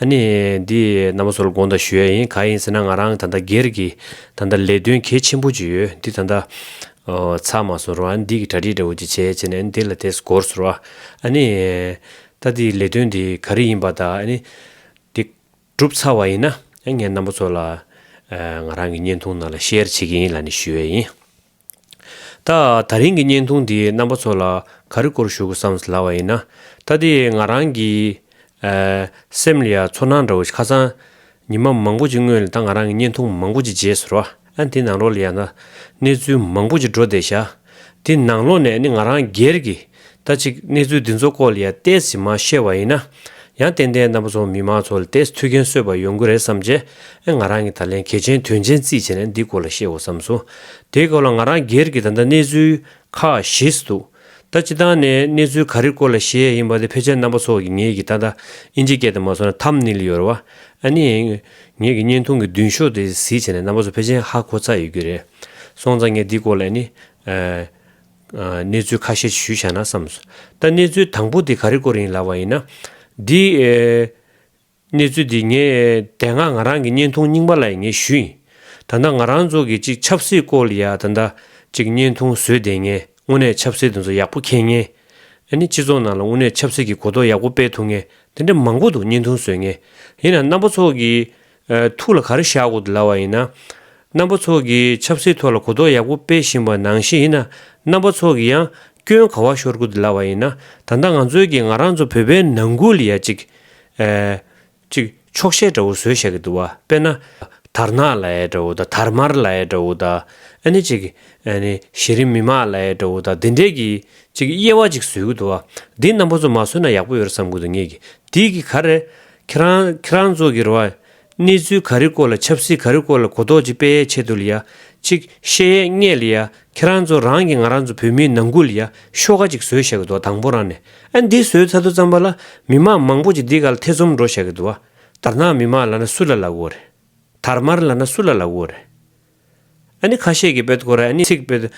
ཨ་ནི། འདི་ནམ་བཟོ་ལ་དགོངས་དག་ཞུ་ཡ་ཡིན་ག་ཡིན་ཟེར་ན་ང་རང་ད་ལྟ་སྒེར་གྱི་ད་ལྟ་ལས་དོན་གལ་ཆེན་པོ་ཅིག་ཡོད་འདི་ད་ལྟ་ཚར་མ་སོང་རུང་ཨ་ནི་འདི་གི་གྲ་སྒྲིག་འདྲ་བོ་ཅིག་བྱེད་ཅེས་ནས་ཨ་ནི་དེ་ལ་དེ་སྒོར་ཟེར་བ། ཨ་ནི། ད་འདི་ལས་དོན་འདི་ག་རེ་ཡིན་པ་ད་ཨ་ནི། འདི་གྲུབ་ཚར་བ་ཡིན་ན་ངས་ནམ་བཟོ་ལ་ང་རང་གི་བརྙན་ཐུང་ནང་ལ་ཤེར་བྱེད་ཀྱི་ཡིན་ལ་ནི་ཞུ་ཡ་ཡིན། ད་ད་རིང་གི་བརྙན་ཐུང་འདིའི་རྣམ་པ་ཚོ་ལ་ག་རེ་སྐོར་ཞུ་དགོས་བསམ་ཟླ་བ་ཡིན་ན། ད་ལྟའི་ང་རང་གི། སེམས་ལ་ཡང་ཚོར་སྣང་འདྲ་བོ་ཞིག་ཁ་སང། ཉི་མ་མང་པོ་ཅིག་སྔོན་ལ་ད་ང་རང་གི་བརྙན་ཐུང་མང་པོ་ཅིག་བརྗེས་ཟེར། ཨ་འདི་ནང་ལོགས་ལ་ཡང་ད་གནས་ཚུལ་མང་པོ་ཅིག་འགྲོ་བསྡད་ཤག། འདི་ནང་ལོགས་ནས་ནི་ང་རང་སྒེར་གྱི། ད་ཅིག་གནས་ཚུལ་འདི་ཚོ་སྐོར་ལ་ཡང་བལྟས་ཚེ་མ་ཤེས་བ་ཡིན་ན། ཡང་ཏན་ཏན་རྣམ་པ་ཚོ་མི་མང་ཚོ་ལ་བལྟས་ཚེ་ཐུགས་འགན་གསོས་པ་ཡོང་གི་རེད་བསམ་རྗེས་ཨེ་ང་རང་གིས་ད་ལན་གལ་ཆེན་དོན་ཆེན་རྩིས་བྱས་ནས་འདི་སྐོར་ལ་བཤད་འོ་བསམ་སོང། དེའི་སྐབས་ལ་ང་རང་སྒེར་གྱི་ད་ལྟ་གནས་ཚུལ་ཁག་ཤེས་སུ་འདུག་ད་སྤྱི་བཏང་ནས་གནས་ཚུལ་ག་རེ་སྐོར་ལ་བཤད་ཡས་ཡིན་པ་དེ་ཕལ་ཆེར་རྣམ་པ་ཚོ་གིས་ངེད་ཀྱིས་ད་ལྟ་དབྱིན་ཇི་སྐད་དེ་མ་བཟོ་ན་ཐམ་ནིལ་ཡོད་རེད་བ་ཨ་ནི། ངེད་ཀྱི་བརྙན་ཐུང་གི་མདུན་ཤོག་དེ་གཟིགས་བྱས་ནས་རྣམ་པ་ཚོ་ཕལ་ཆེན་ཧ་གོ་ཚར་ཡོད་ཀྱི་རེད་སོང་ཙང་ངས་འདི་སྐོར་ལ་ཨ་ནི། གནས་ཚུལ་ཁ་ཤས་ཞུས་བྱ་ན་བསམས་སོ། ད་གནས་ཚུལ་དང་པོ་དེ་ག་རེ་སྐོར་ཡིན་ལབ་བ་ཡིན་ན། འདི། གནས་ཚུལ་འདི་ངས་དེ་སྔ་ང་རང་གི་བརྙན་ཐུང་རྙིང་པ་ལ་ཡིན་ངེས་ཞུས་ཡིན། ད་ལྟ་ང་རང་ཚོ་གི་ཅིག་ཆབ་སྲིད་སྐོར་ལ་ཡ་ད་ད་ཅིག་བརྙན་ཐུང་བཟོས་བསྡད་ངས་དངོས་གནས་ཆབ་སྲིད་དེ་ཚོ་ཡག་པོ་མཁྱེན་ངེས། ཨཱ་ནི་སྤྱི་ཚོགས་ནང་ལ་དངོས་གནས་ཆབ་སྲིད་ཀྱི་གོ་རྟོགས་ཡག་པོ་སྤེལ་ཐུབ་ངེས་དེ་འདྲ་མང་པོ་འདུག་བརྙན་ཐུང་བཟོས་ངེས། ཡིན་ནའང་རྣམ་པ་ཚོ་གི་ཐུགས་ལ་ག་རེ་བཞག་གོ་སླ་བ་ཡིན་ན། རྣམ་པ་ཚོགས་ཀྱིས་ཆབ་སྲིད་ཐོག་ལ་གོ་རྟོགས་ཡག་པོ་སྤེལ་བཞིན་པ་ནང་བཞིན་ཡིན་ན་རྣམ་པ་ཚོགས་ཀྱིས་ཡང་སྐྱོན་ག་བ་ཤོར་གོ་སླ་བ་ཡིན་ན་ད་ལྟ་ང་ཚོའི་གིས་ང་རང་ཚོ་བོད་པའི་ནང་ཁུལ་ཡ་གཅིག་ཅིག་ཆོག་ཤེས་འདྲ་བོ་བཟོས་བཞག་གི་འདུག་བ་དཔེར་ན། དར་ནག་ལ་ཡ་འདྲ་བོ་དང་དར་དམར་ལ་ཡ་འདྲ་བོ་དང་ཨ་ནི་ཅིག་གཞི་རིམ་མི་མང་ལ་ཡ་འདྲ་བོ་དང་འདི་འདྲས་ཀྱི་ཅིག་དབྱེ་བ་ཅིག་བཟོས་གི་འདུག་བ་འདི་རྣམ་པ་ཚོ་མ་བཟོས་ན་ཡག་པོ་ཡོད་རེད་བསམ་གི་འདུག་ངེད་ཀྱིས་འདི་གིས་ག་རེ་ཁྱེད་རང་ཁྱེད་རང་ཚོ་གི་རེ་བ། གནས་ཚུལ་ག་རེ་སྐོར་ལ་ཆབ་སྲིད་ག་རེ་སྐོར་ལ་གོ་རྟོགས་ཅིག་སྤེལ་ཡས་ཆེད་དུ་ལ་ཡ་ཅིག་བཤད་ཡས་རྙེད་ལ་ཡ་ཁྱེད་རང་ཚོ་རང་གི་ང་རང་ཚོ་བོད་མིའི་ནང་ཁུལ་ལ་ཡ་ཤོ་ག་ཅིག་བཟོས་བཞག་གི་འདུག་དང་པོ་རང་ནས་ཨ་འདི་བཟོས་ཚར་དུ་ཙམ་པ་ལ་མི་མང་མང་པོ་ཅིག་འདི་ག་ལ་ཐེ་ཚོམ་འགྲོ་བཞག་གི་འདུག་བ་དར་ནག་མི་མང་ལ་ན་སུ་ལ་ལ་གོ་རེད་དར་དམར་ལ་ན་སུ་ལ་ལ་གོ་རེད། ཨ་ནི་ཁ་ཤས་ཀྱིས་བོད་སྐོར་ཨ་ནི་ཚིག་བོད།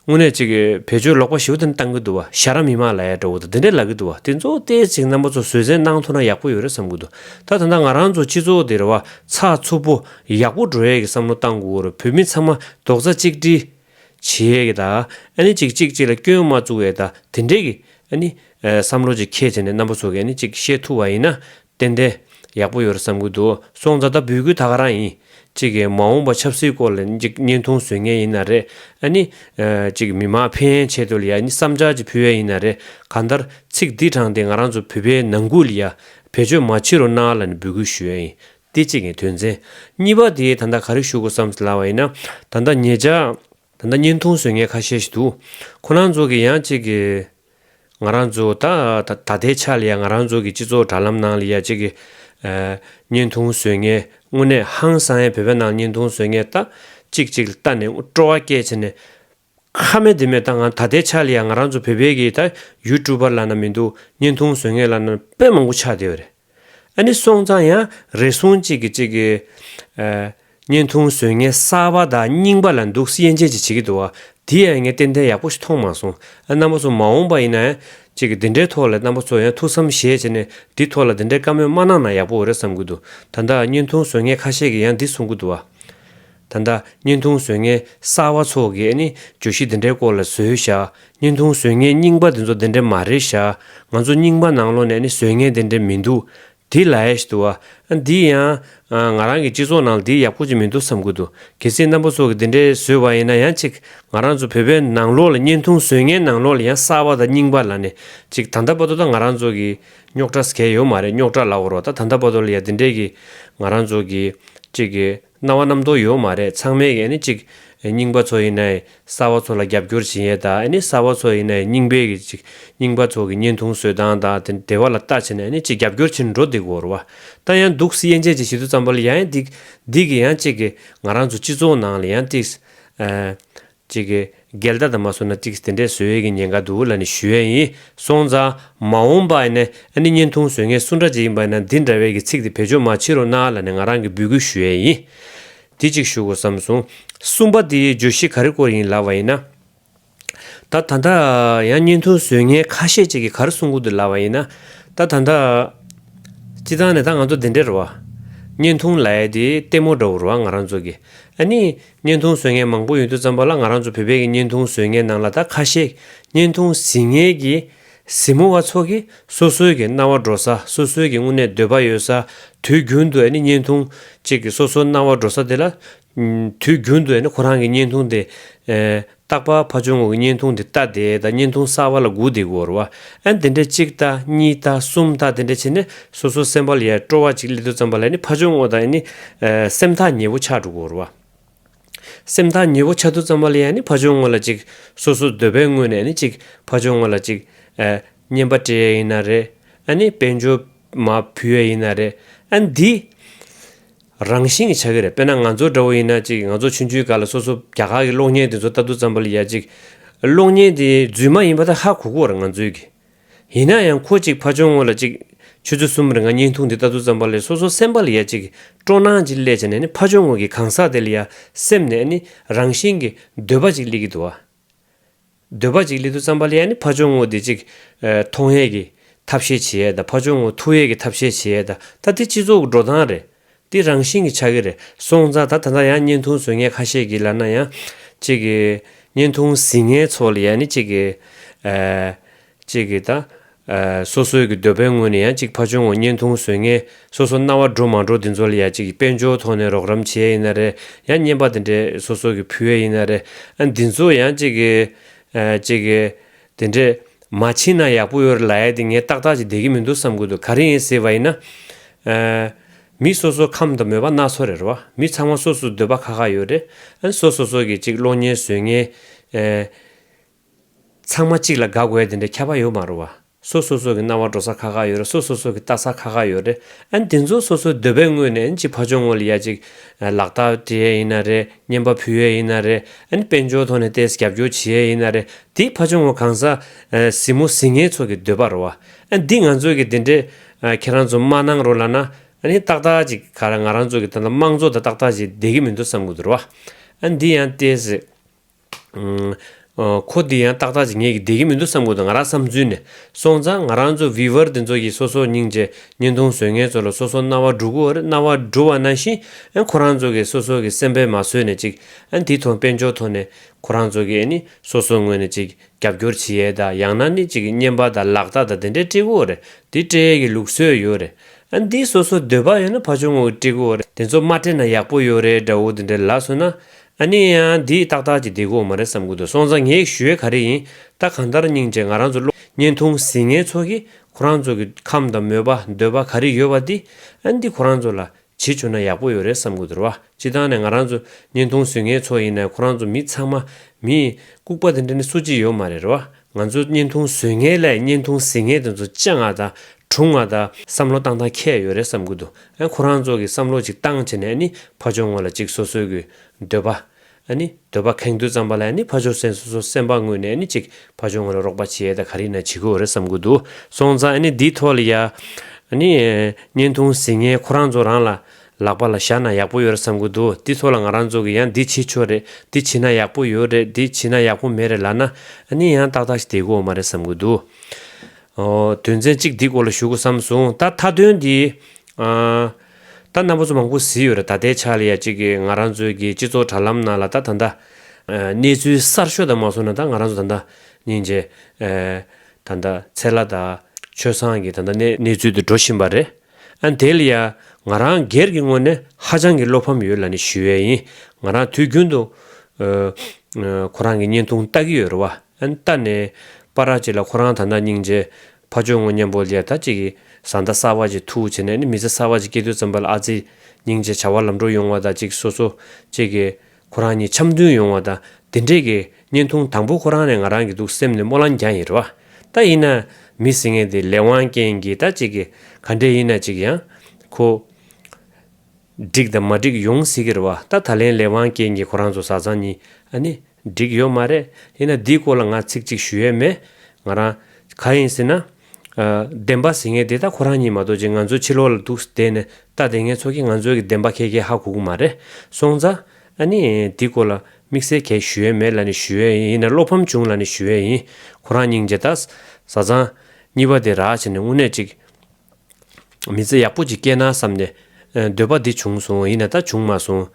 དངོས་གནས་ཅིག་བེད་སྤྱོད་ལོག་པ་ཞིག་དེ་འདྲ་གཏང་གི་འདུག་བ་ཤ་ར་མི་མ་ལ་ཡ་འདྲ་བོ་དང་དེ་འདྲ་ལབ་གི་འདུག་བ་དེ་ཚོ་ལྟས་ཅིག་རྣམ་པ་ཚོ་བཟོད་བསྲན་གནང་ཐུབ་ན་ཡག་པོ་ཡོད་རེད་བསམ་གི་འདུག་ད་ད་ལྟ་ང་རང་ཚོ་སྤྱི་ཚོགས་འདིར་བ་ཚ་འཚུབ་པོ་ཡག་པོ་འགྲོ་ཡས་ཀྱི་བསམ་བློ་གཏང་དགོས་རེད་བོད་མི་ཚང་མ་རྡོག་རྩ་གཅིག་སྒྲིལ་བྱེད་ཡས་ཀྱི་ད་ཨ་ནི་ཅིག་གཅིག་གཅིག་ལ་སྐྱོན་མ་བཙུགས་ཡས་ད་དེ་འདྲས་ཀྱི་ཨ་ནི་བསམ་བློ་ཅིག་ཁྱེད་བྱས་ནས་རྣམ་པ་ཚོ་གི་ཨ་ནི་ཅིག་བཤད་ཐུབ་བ་ཡིན་ན་བསྟན་ཏེ། ཡག་པོ་ཡོད་རེད་བསམ་གྱི་འདུག་སོང་ད་ལྟ་འབུལ་གྱི་ད་ག་རང་ཡིན། གཅིག་གིས་མ་འོངས་པ་ཆབ་སྲིད་སྐོར་ལ་གཅིག་བརྙན་ཐུང་བཟོས་ངེས་ཡིན་ན་རེད་ཨ་ནི། གཅིག་མི་མང་ཕན་ཡན་ཆད་དུ་ལ་ཡ་ནི་བསམ་འཆར་གཅིག་ཕུལ་ཡ་ཡིན་ན་རེད་གང་ལྟར་ཚིག་འདི་དྲངས་ཏེ་ང་རང་ཚོ་བོད་པའི་ནང་ཁུལ་ལ་ཡ་བེད་སྤྱོད་མ་བྱེད་རོགས་གནང་ལ་ནི་འབུལ་གྱི་ཞུ་ཡ་ཡིན་ཏེ་གཅིག་ངས་དོན་ཚན། གཉིས་པ་དེ་ད་ལྟ་ག་རེ་ཞུ་དགོས་བསམ་ཟིན་ལ་བ་ཡིན་ན་ད་ལྟ་ངེད་ཅག། ད་ལྟ་བརྙན་ཐུང་བཟོས་ངེས་ཁ་ཤས་ཞིག་འདུག་ཁོ་རང་ཚོ་གིས་ཡང་གཅིག་གིས། ང་རང་ཚོདང་ད་ལྟའི་ཆ་ལ་ཡང་ང་རང་ཚོ་གི་སྤྱི་ཚོགས་དྲ་ལམ་ནང་ལ་ཡ་གཅིག་གི་བརྙན་ཐུང་བཟོས་ངེས་དངོས་གནས་ཧང་སང་ཡ་བོད་པའི་ནང་བརྙན་ཐུང་བཟོས་ངེས་ལྟ་གཅིག་གཅིག་ལ་ལྟ་ནས་སྤྲོ་བ་སྐྱེས་བྱས་ནས། ཁ་མེད་དེ་མེད་ད་ང་ད་ལྟའི་ཆ་ལ་ཡང་ང་རང་ཚོ་བོད་པའི་གི་ད་ཡུལ་ཀྲུ་པར་ལ་ན་མི་འདུག་བརྙན་ཐུང་བཟོས་ངེས་ལ་ན་དཔེ་མང་པོ་ཆགས་བསྡད་པ་རེད། ཨ་ནི་སོང་ཙང་ཡང་རེ་ཟུང་གཅིག་གིས་གཅིག་གི། བརྙན་ཐུང་བཟོས་ངས་གསར་བ་དག་རྙིང་པ་ལ་འདུག་སེ་ཡན་ཅན་གཅིག་བྱེད་ཀྱི་འདུག་དེ་ཡང་ངས་ཏན་ཏན་ཡག་པོ་ཞིག་མཐོང་མ་སོང་ཨ་རྣམ་པ་ཚོ་མ་འོངས་པ་ཡིན་ན་ཡང་གཅིག་གི་འདི་འདྲའི་ཐོག་ལས་རྣམ་པ་ཚོ་ཡང་ཐུགས་བསམ་བཞེས་བྱས་ནས་འདི་ཐོག་ལ་འདི་འདྲའི་བཀའ་མོལ་མ་གནང་ན་ཡག་པོ་འོས་རེད་བསམ་གྱི་འདུག་ད་ལྟ་བརྙན་ཐུང་བཟོ་མཁན་ཁ་ཤས་ཀྱིས་ཡང་འདི་གསུང་གི་འདུག་བ། ད་ལྟ་བརྙན་ཐུང་བཟོས་མཁན་གསར་བ་ཚོ་གིས་ནི་བརྗོད་གཞི་འདི་འདྲའི་སྐོར་ལ་བཟོས་བཞག་བརྙན་ཐུང་བཟོས་མཁན་རྙིང་པ་དེ་ཚོ་འདི་འདྲ་མ་རེད་བཞག་ང་ཚོ་རྙིང་པ་ནང་ལོག་ནས་ནི་བཟོས་མཁན་དེ་འདྲ་མི་འདུག་དེ་ལའེ་ཏུ་ཨ་འདི་ཡང་ང་རང་གི་སྤྱི་ཚོགས་ནང་ལ་འདི་ཡག་པོ་ཅིག་མི་འདུག་བསམ་གི་འདུག་གལ་སྲིད་རྣམ་པ་ཚོ་གིས་འདི་འདྲའི་བཟོས་བ་ཡིན་ན་ཡང་ཅིག་ང་རང་ཚོ་བོད་པའི་ནང་ལོག་ལ་བརྙན་ཐུང་བཟོས་མཁན་ནང་ལོག་ལ་ཡང་གསར་བ་དང་རྙིང་པ་ལ་ནི་ཅིག་ད་ལྟ་བར་དུ་ད་ང་རང་ཚོ་གི་རྙོག་དྲ་ཟེར་མཁན་ཡོད་མ་རེད་རྙོག་དྲ་ལ་འོ་རོགས་ད་ད་ལྟ་བར་དུ་ལ་ཡང་འདི་འདྲའི་གི་ང་རང་ཚོ་གི་ཅིག་གི། སྣང་བ་རྣམ་རྟོག་ཡོད་མ་རེད་ཚང་མའི་གིས་གཅིག་རྙིང་པ་ཚོ་ཡིན་ན་གསར་བ་ཚོ་ལ་རྒྱབ་སྐྱོར་བྱིན་ཡས་དག་གསར་བ་ཚོ་ཡིན་ན་རྙིང་པའི་གིས་གཅིག་རྙིང་པ་ཚོ་གི་བརྙན་ཐུང་བཟོས་སྟངས་དག་དེ་བ་ལ་ལྟ་བྱས་ན་གཅིག་རྒྱབ་སྐྱོར་བྱིན་འགྲོ་འདི་གོར་བ་ལྟ་ཡང་འདུག་སི་ཡན་ཅན་གྱི་ཞི་དུལ་ཙམ་པོ་ལ་ཡང་འདི་གིས་ཡང་གཅིག་གིས་ང་རང་ཚོ་སྤྱི་ཚོགས་ནང་ལ་ཡང་གཅིག་ཅིག། འགལ་ཟླ་དང་མ་སོ་ན་ཅིག་དེ་འདྲའི་བཟོད་ཡས་ཀྱི་ཉེན་ཁ་འདུག་ལ་ནི་ཞུ་ཡས་ཡིན་སོང་ཙང། མ་འོང་པ་ཨ་ནི་བརྙན་ཐུང་བཟོད་ངས་སུ་འདྲ་ཅིག་ཡིན་པ་ཡིན་ན་འདི་འདྲ་བས་ཀྱི་ཚིག་དེ་བེད་སྤྱོད་མ་བྱེད་རོགས་གནང་ལ་ནི་ང་རང་གི་འབུལ་སྐུལ་ཞུ་ཡས་ཡིན། དེ་ཅིག་ཞུ་དགོས་བསམ་སོང། གསུམ་པ་དེའི་བརྗོད་གཞི་ག་རི་སྐོར་ཡིན་ལབ་བ་ཡིན་ན། ད་ད་ད། ཡང་བརྙན་ཐུང་བཟོད་ངས་ཁ་ཤས་ཅིག་གི་ག་རི་གསུང་ཁུལ་དུ་ལབ་བ་ཡིན་ན། ད་ད་ད། སྤྱི་བཏང་ནས་ད་ང་ཚོ་དེ་འདྲའི་རུ་བ། བརྙན་ཐུང་ལ་ཡས་དེ་ལྟད་མོ་འདྲ་བོ་རུ་བ་ང་རང་ཚོ་གི་ཨ་ནི། བརྙན་ཐུང་བཟོས་མཁན་མང་པོ་ཡོད་དུས་བརྩམས་པ་ལ་ང་རང་ཚོ་བོད་པའི་གི་བརྙན་ཐུང་བཟོས་མཁན་ནང་ལ་ད་ཁ་ཤས་བརྙན་ཐུང་གཟིགས་མཁན་གི་གཟིགས་མོ་བ་ཚོ་གི་སོ་སོའི་གི་སྣང་བ་འགྲོ་ས་སོ་སོའི་གི་དངོས་གནས་འདོད་པ་ཡོད་ས་དུས་རྒྱུན་དུ་ཡ་ནི་བརྙན་ཐུང་གཅིག་གི་སོ་སོའི་སྣང་བ་འགྲོ་ས་དེ་ལ་དུས་རྒྱུན་དུ་ཡ་ནི་ཁོ་རང་གི་བརྙན་ཐུང་དེ་རྟག་པར་ཕ་ཆུང་ངུ་གི་བརྙན་ཐུང་དེ་ལྟ་དེ་ལྟ་བརྙན་ཐུང་གསར་བ་ལ་སྒུག་དེ་སྒུག་རེ་བ་ཨན་དེ་འདྲས་གཅིག་ལྟ་གཉིས་ལྟ་གསུམ་ལྟ་དེ་འདྲས་བྱས་ནས་སོ་སོའི་སེམས་པ་ལ་ཡལ་སྤྲོ་བ་ཅིག་སླེབས་དུས་ཙམ་པ་ལ་ནི་ཕ་ཆུང་ངུ་དང་ནི་སེམས་ཐག་ཉེ་བོ་ཆགས་འགྲོ་དགོས་རེ་བ། སེམས་ཐག་ཉེ་བོ་ཆགས་དུས་ཙམ་པ་ལ་ཡང་ནི་ཕ་ཆུང་ངུ་ལ་ཅིག་སོ་སོའི་འདོད་པའི་དངོས་ནས་ནི་ཅིག་ཕ་ཆུང་ངུ་ལ་ཅིག་བརྙན་པ་སྤྲད་ཡས་ཡིན་ན་རེད་ཨ་ནི་དཔལ་འབྱོར་མ་ཕུལ་ཡས་ཡིན་ན་རེད་ཨན་དེ། རང་བཞིན་གྱི་ཆ་གི་རེད་དཔེར་ན་ང་ཚོ་འདྲ་བོ་ཡིན་ན་ཅིག་ང་ཚོ་ཆུང་ཆུང་ག་ལ་སོ་སོ་རྒྱ་གར་གྱི་གློག་བརྙན་དེ་ཚོ་ལྟ་འདུག་ཙམ་པོ་ལ་ཡ་ཅིག། གློག་བརྙན་དེ་རྫུན་མ་ཡིན་པ་ད་ཧ་གོ་གོ་ར་ང་ཚོའི་གི། ཡིན་ན་ཡང་ཁོ་ཅིག་ཕ་ཆོས་ངོ་ལ་ཅིག། ཆུ་ཚོད་གསུམ་རེ་ང་བརྙན་ཐུང་དེ་ལྟ་འདུག་ཙམ་པ་ལས་སོ་སོ་སེམས་པ་ལ་ཡ་ཅིག་སྤྲོ་སྣང་ཅིག་སླེ་བྱས་ནས་ནི་ཕ་ཆོས་ངོ་གི་གང་ཟག་དེ་ལ་ཡ་སེམས་ནས་ནི་རང་བཞིན་གྱི་འདོད་པ་ཅིག་སླེ་གི་འདུག་ཨ། འདོད་པ་ཅིག་ལི་དུ་ཙམ་པ་ལི་ཡ་ནི་ཕ་ཆོས་ངོ་དེ་ཅིག་མཐོང་ཡས་ཀྱི་ཐབས་ཤེས་བྱེད་ཡས་དང་ཕ་ཆོས་ངོ་ཐུག་ཡས་ཀྱི་ཐབས་ཤེས་བྱེད་ཡས་དང་ད་དེ་སྤྱི་ཚོགས་ཀྱི་འགྲོ་སྟངས་རེད་དེ་རང་བཞིན་གྱི་ཆགས་ཀྱི་རེད་སོང་ཙང་ད་ད་ལྟ་ཡང་བརྙན་ཐུང་བཟོ་མཁན་ཁ་ཤས་ཀྱིས་ལར་ན་ཡང་ཅིག་བརྙན་ཐུང་གཟིགས་མཁན་ཚོ་ལི་ཡ་ནི་ཅིག་གཅིག་གིས་དང། སོ་སོའི་གི་འདོད་པའི་སྔོན་ནས་ཡང་གཅིག་ཕ་ཆུང་ངོ་བརྙན་ཐུང་བཟོས་ངེས་སོ་སོ་རྣ་བ་འགྲོ་མ་འགྲོ་འདི་ཚོ་ལ་ཡང་གཅིག་གི་དཔལ་འབྱོར་ཐོག་ནས་རོགས་རམ་བྱེད་ཡས་ཡིན་ན་རེད་ཡང་བརྙན་པ་དེ་འདྲས་སོ་སོ་གི་ཕུལ་ཡས་ཡིན་ན་རེད་ཨ་འདི་ཚོ་ཡང་གཅིག་གི། གཅིག་གི། དེ་འདྲས་མ་ཕྱིན་ན་ཡག་པོ་ཡོད་རེད་ལ་ཡས་དེ་ངས་ཏག་ཏག་ཅིག་བསྡད་གི་མི་འདུག་བསམ་གི་འདུག་ག་རེ་ཡིན་ཟེར་བ་ཡིན་ན། མི་སོ་སོ་ཁམས་དང་མོས་པ་སྣ་ཚོགས་རེད་རེད་བ་མི་ཚང་མ་སོ་སོ་འདོད་པ་ཁ་ཁ་ཡོད་རེད་ཨ་སོ་སོ་སོ་གི་གཅིག་གློག་བརྙན་བཟོས་ངེས། ཚང་མ་གཅིག་ལ་དགའ་དགོས་དེ་འདྲའི་ཁྱབ་པ་ཡོད་མ་རུང་བ། སོ་སོ་སོ་གི་སྣང་བ་འགྲོ་ས་ཁག་ཁག་ཡོད་རེད་སོ་སོ་སོ་གི་ལྟ་ས་ཁག་ཁག་ཡོད་རེད་ཨ་འདི་ཚོ་སོ་སོའི་འདོད་པའི་དངོས་ནས་ཨ་ཅིག་ཕ་ཆོག་ངོ་ལ་ཡ་ཅིག་ལག་རྟགས་འབྲི་ཡས་ཡིན་ན་རེད་བརྙན་པ་ཕུལ་ཡས་ཡིན་ན་རེད་ཨ་ནི་དཔལ་འབྱོར་ཐོག་ནས་ལྟས་ས་རྒྱབ་སྐྱོར་བྱེད་ཡས་ཡིན་ན་རེད་དེ་ཕ་ཆོག་ངོ་གང་ཟག་གཟིགས་མོ་གཟིགས་ངན་ཚོ་གི་འདོད་པ་རོ་བ་ཨ་འདི་ང་ཚོ་གི་དེ་འདྲའི་ཁྱེད་རང་ཚོ་མ་གནང་རོགས་ལ་ན་ཨ་ནི་ཏག་ཏག་ཅིག་ག་ར་ང་རང་ཚོ་གི་ད་ལྟ་དམངས་གཙོ་ད་ཏག་ཏག་ཅིག་བསྡད་གི་མི་འདུག་བསམ་གི་འདུག་རོ་བ་ཨ་འདི་ཡང་ལྟས་ས། ཁོ་འདི་ཡང་ཏག་ཏག་ཅིག་ངེས་ཀྱི་བསྡད་ཀྱི་མི་འདུག་བསམ་ཁུལ་དུ་ང་རང་བསམ་ཚུལ་ནི། སོང་ཙང་ང་རང་ཚོ་བི་བར་འདི་ཚོ་ཡིས་སོ་སོར་སྙིང་རྗེ་བརྙན་ཐུང་བཟོས་ངན་ཚོ་ལ་སོ་སོར་རྣ་བ་འབྲུག་གུ་རྣ་བ་འབྲུ་བ་ན་བཞིན་ཁོ་རང་ཚོ་གིས་སོ་སོ་གི་སེམས་པས་མ་བཟོད་ནས་ཅིག་འདི་ཐོ་དཔེ་འཇོག་ཐོ་ནས་ཁོ་རང་ཚོ་གིས་ནི་སོ་སོ་ངོས་ནས་ཅིག་རྒྱབ་སྐྱོར་བྱེད་ཡས་ད་ཡང་ན་ནི་ཅིག་བརྙན་པ་ད་ལག་ད་ད་འདི་འདྲའི་ཀྲི་གུ་རེད་འདི་ཀྲི་ཡས་གི་ལུགས་སྲོལ་ཡོད་རེད་འདི་སོ་སོ་འདོད་པ་ཡོད་ན་ཕ་ཆུང་ངོ་གི་ཀྲི་གུ་རེད་འདི་ཚོ་མ་ཀྲི་ན་ཡག་པོ་ཡོད་རེད་འདྲ་བོ་འདི་འདྲའི་ལ་སོ་ན་ཨ་ནི་ཡ། འདི་ཏག་ཏག་གི་འདི་གོ་མ་རེད་བསམ་གི་འདུག་སོང་ཙང་ངས་ཞུ་ཡས་ག་རེ་ཡིན་ད་གང་ལྟར་སྙིང་རྗེ་ང་རང་ཚོ་གློ་བརྙན་འཐུང་ཟིན་ངའི་ཚོ་གིས་ཁོ་རང་ཚོ་གི་ཁམས་དང་མོས་པ་འདོད་པ་ག་རེ་ཡོད་བ་འདི་ཨ་འདི་ཁོ་རང་ཚོ་ལ་བྱེད་བཅུག་ན་ཡག་པོ་ཡོད་རེད་བསམ་གི་འདུར་བ་སྤྱི་ལྟང་ནས་ང་རང་ཚོ་བརྙན་འཐུང་ཟིན་ངའི་ཚོ་ཡིན་ནའི་ཁོ་རང་ཚོ་མི་ཚང་མ་མི་ལྐུག་པ་དེ་འདྲ་ནི་སུ་གཅིག་ཡོད་མ་རེད་རེད་བ་ང་ཚོ་བརྙན་ཐུང་བཟོས་མཁན་ལས་བརྙན་ཐུང་གཟིགས་མཁན་དེ་ཚོ་སྤྱང་ང་དང་གྲུང་ང་དང་བསམ་བློ་བཏང་ཐང་ཁྱད་ཡོད་རེད་བསམ་གི་འདུག་ཨ་ནི་ཁོ་རང་ཚོ་གི་བསམ་བློ་ཅིག་བཏང་བྱས་ནས་ཨ་ནི་ཕ་ཆོག་ངོ་ལ་ཅིག་སོ་སོའི་གི་འདོད་པ་ཨ་ནི་འདོད་པ་ཁེངས་དུས་ཙམ་པ་ལ་ཨ་ནི་ཕ་ཆོག་སེམས་སོ་སོ་སེམས་པ་དངོས་ནས་ཨ་ནི་ཅིག་ཕ་ཆོག་ངོ་ལ་རོགས་པ་བྱེད་ཡས་ད་ག་རིགས་ན་བྱེད་གི་འོ་རེད་བསམ་གི་འདུག་སོང་ཙང་ཨ་ནི་འདིའི་ཐོག་ལ་ཡ་ཨ་ནི་བརྙན་ཐུང་གཟིགས་མཁན་ཁོ་རང་ཚོ་རང་ལ་ལག་པ་ལ་བཞག་ན་ཡག་པོ་ཡོད་རེད་བསམ་གི་འདུག་དེ་ཚོ་ལ་ང་རང་ཚོ་གི་ཡང་འདི་བྱེད་ཆོག་རེད་འདི་བྱེད་ན་ཡག་པོ་ཡོད་རེད་འདི་བྱེད་ན་ཡག་པོ་མེད་རེད་ལབ་ན་ནི་ཡང་ཏག་ཏག་ཞིག་བསྡད་གི་འོ་མ་རེད་བསམ་གི་འདུག་ཨོ་དོན་ཚན་གཅིག་འདི་སྐོར་ལ་ཞུ་དགོས་བསམ་སོང་ད་མཐའ་དོན་འདི་ཨ་ད་རྣམ་པ་ཚོ་མང་པོ་བཟི་ཡོད་རེད་ད་ལྟའི་ཆ་ལ་ཡ་གཅིག་གི་ང་རང་ཚོའི་གི་སྤྱི་ཚོགས་དྲ་ལམ་ནང་ལ་ད་ད་ལྟ་གནས་ཚུལ་གསར་ཤོས་དང་མ་སོང་ན་ད་ང་རང་ཚོ་ད་ལྟ་ཉིན་རྗེ་ད་ད་ཚེ་ལ་ད་ཆོས་བཟང་གི་ད་ད་གནས་ཚུལ་དུ་འགྲོ་བཞིན་པ་རེད། ཨན་དེ་ལ་ཡ། ང་རང་སྒེར་གྱི་ངོས་ནས་ཧ་ཅང་གི་བློ་ཕམ་ཡོད་ལ་ནི་ཞུ་བས་ཡིན། ང་རང་དུས་རྒྱུན་དུ། ཁོ་རང་གི་བརྙན་ཐུང་ལྟ་གི་ཡོད་རེད་བ། ཨན་ལྟ་ནས། པ་ར་ཅིག་ལ་ཁོ་རང་ད་ནག་སྙིང་རྗེ། ཕ་ཆོས་ངོ་མཉམ་པོ་ལས་ད་ཅིག་གི་བཟའ་ཟླ་གསར་བ་ཅིག་ཐུག་བྱས་ནས་ནི་མི་ཚེ་གསར་བ་ཅིག་སྐྱེལ་དུས་ཙམ་པ་ལ་ཨ་ཙི། སྙིང་རྗེ་བྱ་བ་ལམ་འགྲོ་ཡོང་བ་ད་ཅིག་སོ་སོ་ཅིག་གི། ཁོ་རང་གཉིས་འཆམ་མཐུན་ཡོང་བ་དང་དེ་འབྲེལ་གྱི་བརྙན་ཐུང་དང་པོ་ཁོ་རང་ནས་ང་རང་གི་འདུག་སེམས་ནས་སྨོན་ལམ་རྒྱག་ཡིན་རེད་བ། ད་ཡིན་ན། མི་སྲིད་ངན་དེ་ལས་དབང་རྐྱེན་གྱིས་ད་ཅིག་གི་ག་འདྲས་ཡིན་ན་ཅིག་ཡང། ཁོ། འགྲིག་དང་མ་འགྲིག་ཡོང་སྲིད་ཀྱི་རེད་བ་ད་ད་ལན་ལས་དབང་རྐྱེན་གྱིས་ཁོ་རང་ཚོ་བཟའ་ཚང་གཉིས་ཨ་ནི། འགྲིག་ཡོད་མ་རེད་ཡིན་ན་འདིའི་སྐོར་ལ་ང་ཚིག་གཅིག་ཞུ་ཡས་མེད། ང་རང། ག་ཡིན་སྲིད་ན། བདེན་པ་ཟེར་མཁན་དེ་ད་ཁོ་རང་ཉིད་མ་གཏོགས་ཅི་ང་ཚོའི་ཕྱི་ལོག་ལ་འདུག་བསྡད་ནས་ལྟ་བསྡད་མཁན་ཚོ་གིས་ང་ཚོའི་གི་བདེན་པ་ཁྱེད་ཀྱིས་ཧ་གོ་གི་མ་རེད་སོང་ཙང། ཨ་ནི། འདི་སྐོར་ལ་དམིགས་བསལ་གྱེས་ཞུ་ཡས་མེད་ལ་ནི་ཞུ་ཡས་ཡིན་ཡིན་ན་བློ་ཕམ་བྱུང་ལ་ནི་ཞུ་ཡས་ཡིན་ཁོ་རང་སྙིང་རྗེ་ད། བཟའ་ཚང། གཉིས་པ་དེ་རག་བྱས་ནས་དངོས་གནས་གཅིག། མི་ཚེ་ཡག་པོ་ཅིག་སྐྱེལ་ན་བསམ་ནས། འདོད་པ་འདི་བྱུང་སོང་ཡིན་ན་ད་བྱུང་མ་སོང།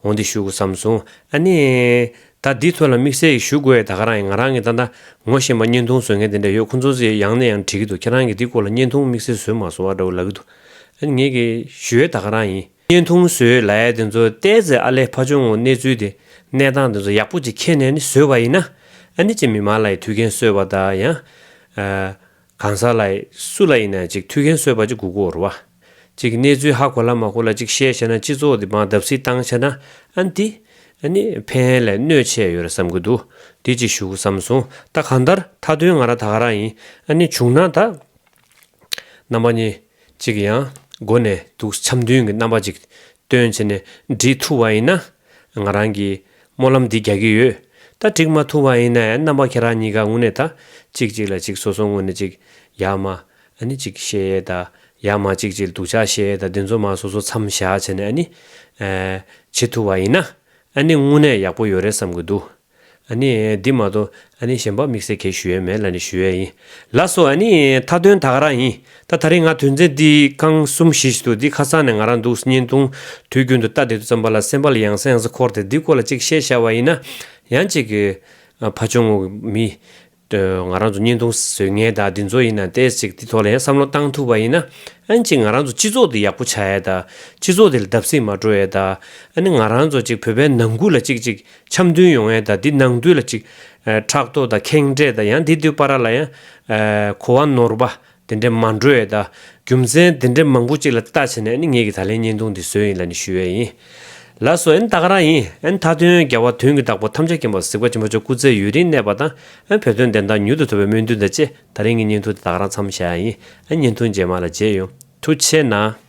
འོ་འདི་བཞུགས་བསམ་སོང། ཨ་ནི། ད་འདི་ཐོས་ལ་དམིགས་བསལ་གྱི་བཞུགས་དགོས་ཡ་ད་ག་རང་ཡིན་ང་རང་གི་ད་ད་ངོ་ཤེས་མ་བརྙན་ཐུང་བཟོས་མཁན་དེ་འདྲ་ཡོད་ཁོ་ཚོ་ཚོས་ཡང་ནས་ཡང་དྲིས་ཀྱི་འདུག་ཁྱེད་རང་གིས་འདི་སྐོར་ལ་བརྙན་ཐུང་དམིགས་བསལ་བཟོས་མ་སོང་ཨ་འདྲ་བོ་ལབ་ཀྱི་འདུག་ཨ་ནི་ངེད་ཀྱི་བཞུགས་ཡ་ད་ག་རང་ཡིན། བརྙན་ཐུང་བཟོས་ལ་ཡ་དེ་ཚོ་བལྟས་ཚེ་ཨ་ལས་ཕ་ཆུང་ངུ་གནས་ཚུལ་དེ་གནས་སྟངས་དེ་ཚོ་ཡག་པོ་ཅིག་ཁྱེར་ནས་ནི་བཟོས་པ་ཡིན་ན་ཨ་ནི་ཅེས་མི་མང་ལ་ཡི་དུས་མཁན་གསོལ་བ་ད་ཡང། གང་ཟག་ལ། སུ་ལ་ཡིན་ན་ཅིག་ཐུགས་འགན་གསོལ་བ་ཅིག་གུ་གུ་འོར་བ། ཅིག་གནས་ཚུལ་ཧ་གོ་ལ་མ་གོ་ལ་ཅིག་བཤད་བྱས་ན་སྤྱི་ཚོགས་འདི་འབངས་བརྡབ་སིལ་བཏང་བྱས་ན་ཨན་ཏི། ཨ་ནི། ཕན་ཧན་ལས་གནོད་ཆེ་ཡོད་རེད་བསམ་གི་འདུག་དེ་ཅིག་ཞུ་བསམ་སོང་ད་གང་ལྟར་མཐའ་དོན་ང་རང་ད་ག་རང་ཡིན་ཨ་ནི་བྱུང་ན་ད། རྣམ་པ་གཉིས། ཅིག་ཡང་སྒོ་ནས་དུག་འཆམ་མཐུན་གྱི་རྣམ་པ་ཅིག་སྟོན་བྱེད་ནས་འབྲི་ཐུབ་བ་ཡིན་ན། ང་རང་གིས་སྨོན་ལམ་འདི་རྒྱག་གི་ཡོད། ད་འགྲིག་མ་ཐུབ་བ་ཡིན་ན་རྣམ་པ་ཁྱེད་རང་གཉིས་ཀ་དངོས་གནས་ད་ཅིག་ཅིག་ལ་ཅིག་སོ་སོ་དངོས་གནས་ཅིག་ཡག་མ་ནི་ཅིག་བཤད་ཡས་ད་ཡག་མ་ཅིག་ཅིག་སྡུག་ཆགས་བཤད་ཡས་ད་འདི་ཚོ་མ་སོ་སོ་མཚམས་བཞག་བྱས་ནས་ནི། བྱེད་ཐུབ་བ་ཡིན་ན་ནི་དངོས་གནས་ཡག་པོ་ཡོད་རེད་བསམ་གི་འདུག། ཨ་ནི། འདི་མ་གཏོགས་ཨ་ནི་གཞན་པ་དམིགས་བསལ་གས་ཞུ་ཡས་མེད་ལ་ནི་ཞུ་ཡས་ཡིན་ལ་སོ་ཨ་ནི། མཐའ་དོན་ད་ག་རང་ཡིན་ད་ད་རིང་ང་དོན་ཚན་འདི་ཁང་གསུམ་བཞི་བཞི་འདུག་འདི་ཁ་སང་ནས་ང་རང་འདུག་བརྙན་ཐུང་དུས་རྒྱུན་དུ་ལྟ་དེ་དུས་ཙམ་པ་ལ་སེམས་པ་ལ་ཡང་ས་ཡང་ས་འཁོར་ཏེ་འདི་སྐོར་ལ་ཅིག་བཤད་ཤར་བ་ཡིན་ན་ཡང་ཅིག། ཕ་ཆུང་ངུ་མི། དོན་ང་རང་ཚོ་བརྙན་ཐུང་བཟོས་མཁན་དག་འདི་ཚོ་ཡིན་ན་ཏེ་ཅིག་འདི་ཐོག་ལ་ཡང་བསམ་བློ་བཏང་ཐུབ་པ་ཡིན་ན་ཨན་ཅིག་ང་རང་ཚོ་སྤྱི་ཚོགས་འདི་ཡག་པོ་བྱ་ཡས་ད་སྤྱི་ཚོགས་འདི་ལ་བརྡབ་གསིག་མ་འགྲོ་ཡས་ད་ཨ་ནི་ང་རང་ཚོ་ཅིག་བོད་པའི་ནང་ཁུལ་ལ་ཅིག་ཅིག་འཆམ་མཐུན་ཡོང་ཡས་ད་འདི་ནང་དུས་ལ་ཅིག་ཨ་ཕྲག་དོག་ད་ཁེངས་དྲེགས་ད་ཡང་འདི་འདུས་པ་ར་ལ་ཡང་ཨ་གོ་བ་ནོར་བ་དེ་འདྲ་མ་འགྲོ་ཡས་ད། རྒྱུ་མཚན་དེ་འདྲ་མང་པོ་གཅིག་ལ་ལྟ་བྱས་ནས་ནི་ངེད་ཀྱི་ད་ལན་བརྙན་ཐུང་འདི་བཟོས་ཡིན་ལ་ནི་ཞུས་ཡས་ཡིན། ལ་སོ་ཨན་ད་ག་རང་ཡིན་ཨན་མཐའ་དོན་རྒྱལ་བ་དོན་གྱི་བདག་པོ་ཐམས་ཅད་མཁྱེན་པ་གཟིགས་པ་ཆེན་པོ་མཆོག་སྐུ་ཚེ་ཡུན་རིང་གནས་པ་དང་ཨན་བོད་དོན་བདེན་མཐའ་མྱུར་དུ་ཐོབ་པའི་སྨོན་འདུན་དང་བཅས་ད་རིང་གི་བརྙན་ཐུང་འདི་ད་ག་རང་འཚམས་བྱས་ཡས་ཡིན་ཨན་བརྙན་ཐུང་རྗེས་མ་ལ་མཇལ་ཡོང་ཐུགས་ཆེ་གནང།